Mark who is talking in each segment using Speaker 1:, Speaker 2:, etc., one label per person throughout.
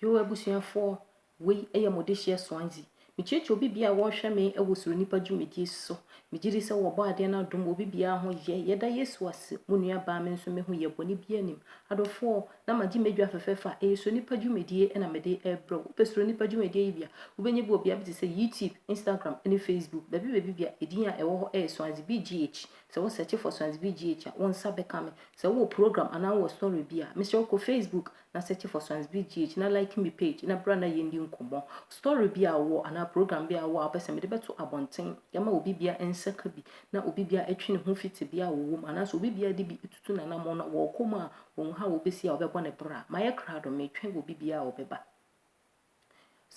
Speaker 1: Yoo abusuafoɔ, wei yɛ mo dehyeɛ Swansea. Mekyerɛkyerɛ obi biara a wɔrehwɛ me wɔ Suro Nnipa dwumadie so. Megye di sɛ wɔ Ɔbɔadeɛ no adom obi biara ho yɛ. Yɛda Yesu ase, mo nua baa me nso me ho yɛ, bɔne biara nnim. Adɔfoɔ, na magye m'adwa fɛfɛɛfɛ a ɛyɛ Suro Nnipa dwumadie na mede rebrɛ wo. Wopɛ Suro Nnipa dwumadie yi bi a, wobɛnya bi wɔ bea bi te sɛ YouTube, Instagram ne Facebook. Baabi baabi biara, edin a ɛwɔ hɔ yɛ Swansea BGH. Sɛ wo search for Sons BGH a, wo nsa bɛka me. Sɛ wowɔ program anaa wowɔ story bi a, mesrɛ wo kɔ Facebook na search for Sons BGH na like me page na bra na yɛndi nkɔmmɔ. Story bi a wowɔ anaa program bi a wowɔ a wopɛ sɛ mede bɛto abɔnten de ama obi biara nsa ka bi na obi biara ɛtwe ne ho fi tebea a wɔwɔ mu anaasɛ obi biara de bi tutu n'anammɔn na wɔrekɔ mu a wɔnhu how wɔbɛsi a wɔbɛbɔ no bra. Mayɛ krado, metwɛn obi biara a ɔbɛba.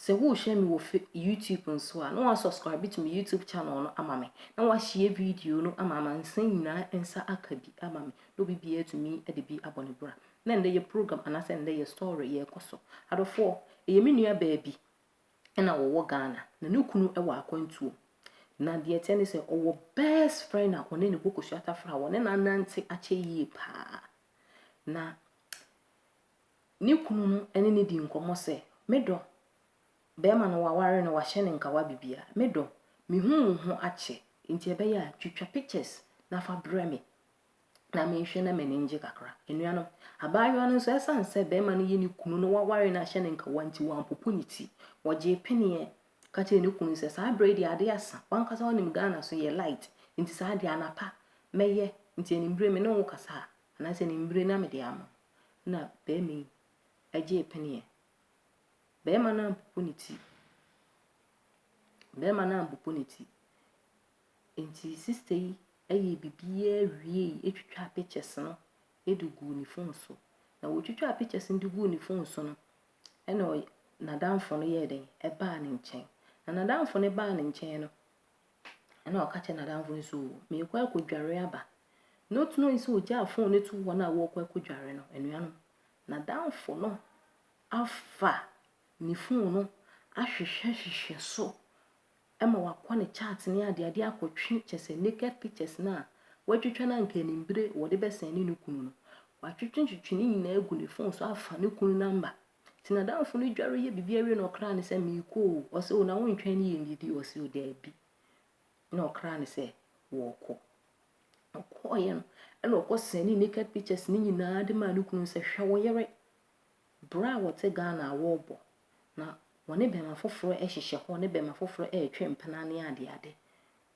Speaker 1: Sɛ worehwɛ me wɔ YouTube nso a, na wɔasubscribe to me YouTube channel no ama me, na wɔahyia video no ama amansan nyinaa nsa aka bi ama me, na obi biara tumi de bi abɔ ne bra. Na ɛndɛ yɛ program anaasɛ ɛndɛ yɛ story yɛrekɔ so. Adɔfoɔ, ɛyɛ me nua baa bi na wɔwɔ Ghana, na ne kunu wɔ akwantuo. Na deɛ ɛteɛ ne sɛ ɔwɔ best friend a ɔne ne bɔ kosua tafra a wɔne no anante akyɛ yie paa. Na Ne kunu no ne no dii nkɔmmɔ sɛ, Me dɔ, barima no wɔaware no, wɔahyɛ no nkawa biribiara. Me dɔ, mehu wo ho akyɛ, enti ɛbɛyɛ a twitwa pictures na fa brɛ me na menhwɛ na m'ani ngye kakra. Anuanom, abaayewa no nso, ɛsiane sɛ barima no yɛ ne kunu na wɔaware no ahyɛ no nkawa nti, wampopo ne ti. Ɔgyee peneɛ ka kyerɛɛ ne kunu sɛ, Saa berɛ yi deɛ adeɛ asa, w'ankasa wonim Ghana so yɛ light, enti saa deɛ anapa mɛyɛ, nti anwummere me ne wo kasa a, anaasɛ anwummere na mede ama wo. na barima yi gyee peneɛ. Barima no ampopo ne ti. Barima no ampopo ne ti. Enti sista yi yɛɛ biribiara wiei twitwaa pictures no de guu ne phone so. Na ɔtwitwaa pictures no de guu ne phone so no, ɛnna ɔy n'adamfo no yɛɛ dɛn? Ɛbaa ne nkyɛn. Na n'adamfo no baa ne nkyɛn no, Ɛnna ɔka kyerɛɛ n'adamfo no sɛ, Oo, merekɔ akɔdware aba. Na ɔte no sɛ ɔgyaa fon no to wɔn a wɔrekɔ akɔdware no. Anuanom, n'adamfo no afa ne fon no ahwehwɛhwehwɛ so ma wakɔ ne chat ne adeade akɔtwe kyɛ sɛ naked pictures no a watwitwa no anka anim bere wɔde bɛsɛn ne ne kunu no. Watwetwetwe ne nyinaa agu ne fon so afa ne kunu namba Nti n'adamfo no dware yɛ biribi awie na ɔkra no sɛ, Meekɔ o. Ɔse, O, na wontwɛn ne yɛnnidi? Ɔse, O, daabi. Ɛna ɔkra no sɛ, Wɔɔkɔ. Ɔkɔɔeɛ no, ɛna ɔkɔ sɛne naked pictures ne nyinaa de maa ne kunu sɛ, Hwɛ wo yere. Berɛ a wɔte Ghana a wɔɔbɔ. Na wɔne bɛɛma foforɔ ɛhyehyɛ hɔ, ne bɛɛma foforɔ ɛɛtwe mpena ne adeade.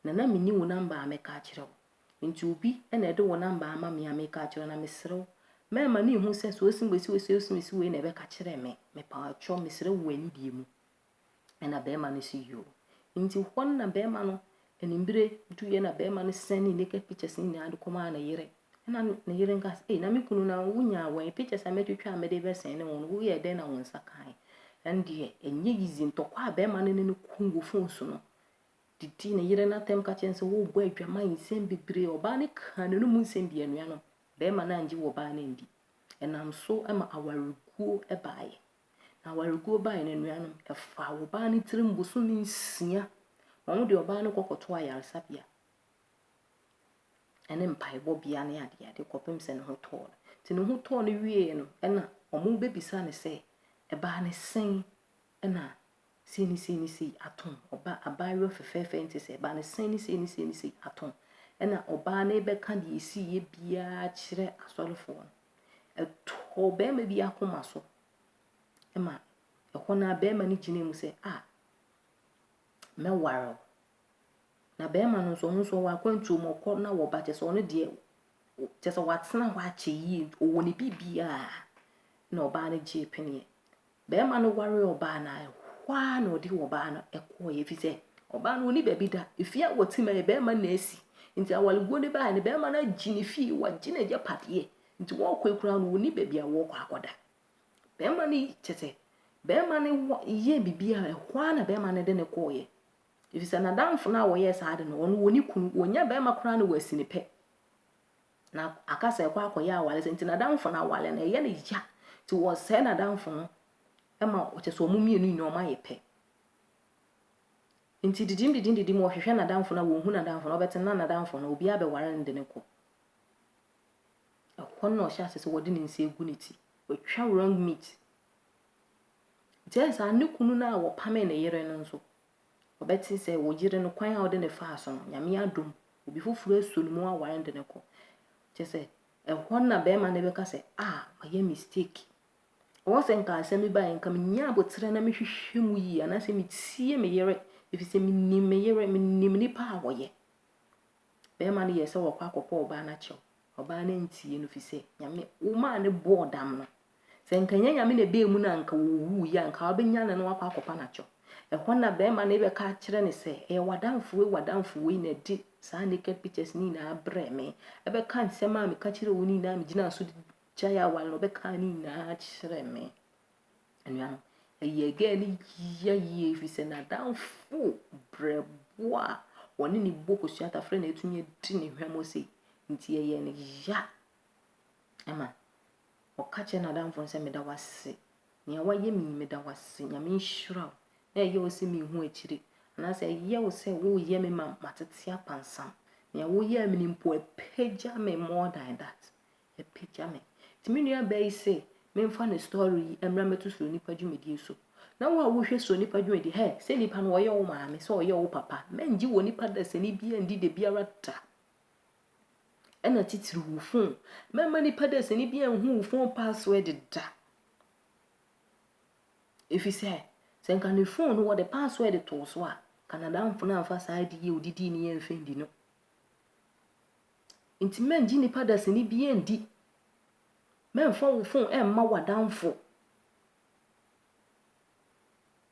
Speaker 1: Na na menni wo namba a mɛka akyerɛ wo. Enti obi na ɛde wo namba ama me a meka akyerɛ wo, na mesrɛ wo, mɛma no nhu sɛ sɛ ɔse mesi wei sɛ ɔse mesi wei na ɛbɛka kyerɛ me. Mepaakyɛw, mesrɛ wo wɔ anidie mu. Ɛna barima no se yoo. Enti hɔ no na barima no animbere duiɛ na barima no sɛn ne naked pictures no nyinaa de kɔmaa ne yere. Ɛna ne yere nka sɛ, ei na me kunu na wonyaa wɔn pictures a mɛtwitwa a mede bɛsɛn ne wɔn, woyɛɛ dɛn na wo nsa kae? Ɛndeɛ ɛnyɛ easy, ntɔkwa a barima no ne no kuu wɔ phone so no, didi ne yere no atɛm ka kyerɛ no sɛ worebɔ adwaman nsɛm bebree. Ɔbaa no kaa n'anom mu nsɛm dii anuanom, barima no angye wɔ ɔbaa no andi. Ɛnam so ma awareguo baeɛ. Na awareguo baeɛ no anuanom, ɛfaa ɔbaa no tirim bosome nsia. Wɔn de ɔbaa no kɔkɔtoo ayaresabea ne mpaebɔbea ne adeade kɔpem sɛ ne ho tɔɔ no. Nti ne ho tɔɔ no wieeɛ no, ɛna wɔbɛbisa no sɛ, ɛbaa ne sɛn? Ɛna sei ne sei ne sei atom ɔba, abaayewa fɛfɛɛfɛ yi nte sɛ ɛba no, sei ne sei ne sei ne sei atom. Ɛna ɔbaa no rebɛka deɛ ɛsiiɛ biara kyerɛ asɔrefoɔ no. Ɛtɔɔ barima bi akoma so ma ɛhɔ no a barima no gyina mu sɛ, a mɛware wo. Na barima no nso ɔno nso ɔwɔ akwantuo mu ɔkɔ na wɔba kyɛ sɛ ɔno deɛ kyɛ sɛ watena hɔ akyɛ yie ɔwɔ ne biribiara na ɔbaa no gyee peneɛ Barima no waree ɔbaa no ara, ɛhɔ ara na ɔde ɔbaa no kɔeɛ, ɛfiri sɛ ɔbaa no ɔni baabi da. Efie a wɔte ma yɛ barima na asi. Nti awareguo no baeɛ no, barima no agye ne fie, wagye n'agyapadeɛ. Nti wɔrekɔ yi koraa no, ɔnni baabi a wɔrekɔ akɔda. Barima no kyɛ sɛ, barima no wɔ yɛɛ biribi a ɛhɔ ara na barima no de no kɔeɛ. Ɛfiri sɛ n'adamfo no a wɔyɛɛ saa ade no, ɔno ɔni kunu, ɔnya barima koraa na wasi ne pɛ. na aka sɛ ɛkɔ akɔyɛ awale sɛ nti n'adamfo no awale no ɛyɛ no ya nti wɔsɛe n'adamfo no ma ɔkyɛ sɛ ɔmo mmienu nyinaa ɔmo ayɛ pɛ nti didim didim didim ɔhwehwɛ n'adamfo no a wɔnhu n'adamfo no ɔbɛte na n'adamfo no obiara bɛware no de no kɔ ɛhɔ na ɔhyɛ ase sɛ wɔde ne nsa egu ne ti watwa wrong meat nti ɛyɛ saa ne kunu no a wɔpame ne yere no nso Ɔbɛte sɛ wo yere no kwan a wode no faa so no, Nyame adom, obi foforɔ asuo no mu aware no de no kɔ. Kyɛ sɛ, ɛhɔ na bɛrima no bɛka sɛ, ah, mayɛ mistake. Ɔwɔ sɛ nka asɛm bi baeɛ, nka menya aboterɛ na mehwehwɛ mu yie, anaasɛ metie me yere, ɛfiri sɛ menim me yere, menim nipa a wɔyɛ. Bɛrima no yɛ sɛ wɔkɔ akɔpɔ ɔbaa no akyɛw. Ɔbaa no antie no, firi sɛ Nyame, wo maa no bɔɔ dam no, Sɛ anka nnyɛ Nyame na ebaa mu na anka owuu yi a, anka ɔbɛnya no na wakɔ akɔpa no akyɛw. Ɛhɔ na bɛrima no rebɛka akyerɛ no sɛ, ɛyɛ w'adamfo wei, w'adamfo wei na de saa naked pictures no nyinaa brɛɛ me. Ɛbɛka nsɛm a meka kyerɛɛ wo no nyinaa, megyinaa so gyae aware no, ɔbɛkaa ne nyinaa kyerɛɛ me. Anuanom, ɛyɛɛ girl no yia yie ɛfiri sɛ n'adamfo brɛboɔ a wɔne ne bɔ kosua tafrɛ na atumi adi ne hwammɔ sei. Nti ɛyɛɛ no ya ma Ɔka kyerɛ n'adamfo no sɛ, Meda wo ase. Nea woayɛ me yi, meda wo ase. Nyame nhyira wo. Na ɛyɛ wo sɛ minhu akyiri, anaasɛ ɛyɛ wo sɛ woreyɛ me ma matete apansam. Nea woyɛɛ me no mpo, apagya me more than that. Apagya me. Nti me nuabaa yi se memfa ne story yi mmra mmɛto Suro Nipa dwumadie so. Na wo a wohwɛ Suro Nipa dwumadie, hɛ, sɛ nipa no ɔyɛ wo maame, sɛ ɔyɛ wo papa, mɛngye wɔ nipa dasani biara ndi da biara da. ɛna titiriw wo fon. Mɛma nipa dasani bi anhu wo fon password da. Efisɛ sɛ nka ne fon no wɔde password too so a, Canadamfo no amfa saa adi yɛ odidi ne yɛ mfɛn di no. Nti mɛngye nipa dasani bi ndi. Mɛmfa wo fon ɛmma w'adamfo.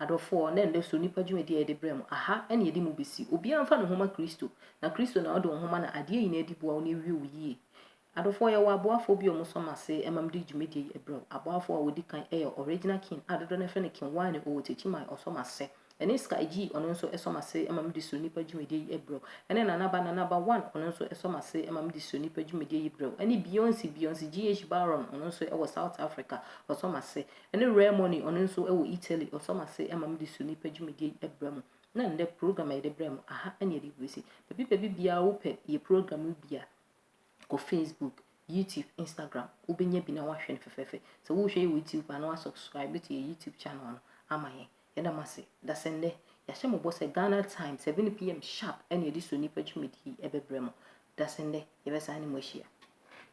Speaker 1: Adɔfoɔ, na ɛnnɛ so nnipa dwumadi a yɛde brɛ mo, aha na yɛde mo bɛsi. Obiara mfa ne ho ma Kristo, na Kristo na ɔde wo ho ma na adeɛ nyinaa di boa wo na ɛwie wo yie. Adɔfoɔ, yɛwɔ aboafoɔ bi a wɔsɔ mo ase ma mede dwumadie yi brɛ wo. Aboafoɔ a wɔdi kan yɛ Original King a dodoɔ no ara frɛ no King Wine, ɔwɔ Techiman, ɔsɔ mo ase. Ɛne Sky G, ɔno nso sɔ mo ase ma mede So Nnipa dwumadie yi brɛ wo. Ɛne Nana Ba, Nana Ba One, ɔno nso sɔ mo ase ma mede So Nnipa dwumadie yi brɛ wo. Ɛne Beyonce, Beyonce GH Baron, ɔno nso wɔ South Africa, ɔsɔ mo ase. Ɛne Rare Money, ɔno nso wɔ Italy, ɔsɔ m'ase ma mede su nnipa dwumadie yi brɛ mo. Na nnɛ, program a yɛde brɛ mo, aha ne yɛde rebɛsi. Baabi baabi biara wopɛ yɛ program no bi a, kɔ Facebook, YouTube, Instagram, wobɛnya bi na woahwɛ no fɛfɛɛfɛ. Sɛ worehwɛ yɛ wɔ YouTube a, na woasubscribe to yɛ YouTube channel no ama yɛn. Yɛda mo ase. Dasɛnnɛ, yɛahyɛ mo bɔ sɛ Ghana time 7pm sharp na yɛde su nnipa dwumadie yi bɛbrɛ mo. Dasɛnnɛ, yɛbɛsan ne mo ahyia.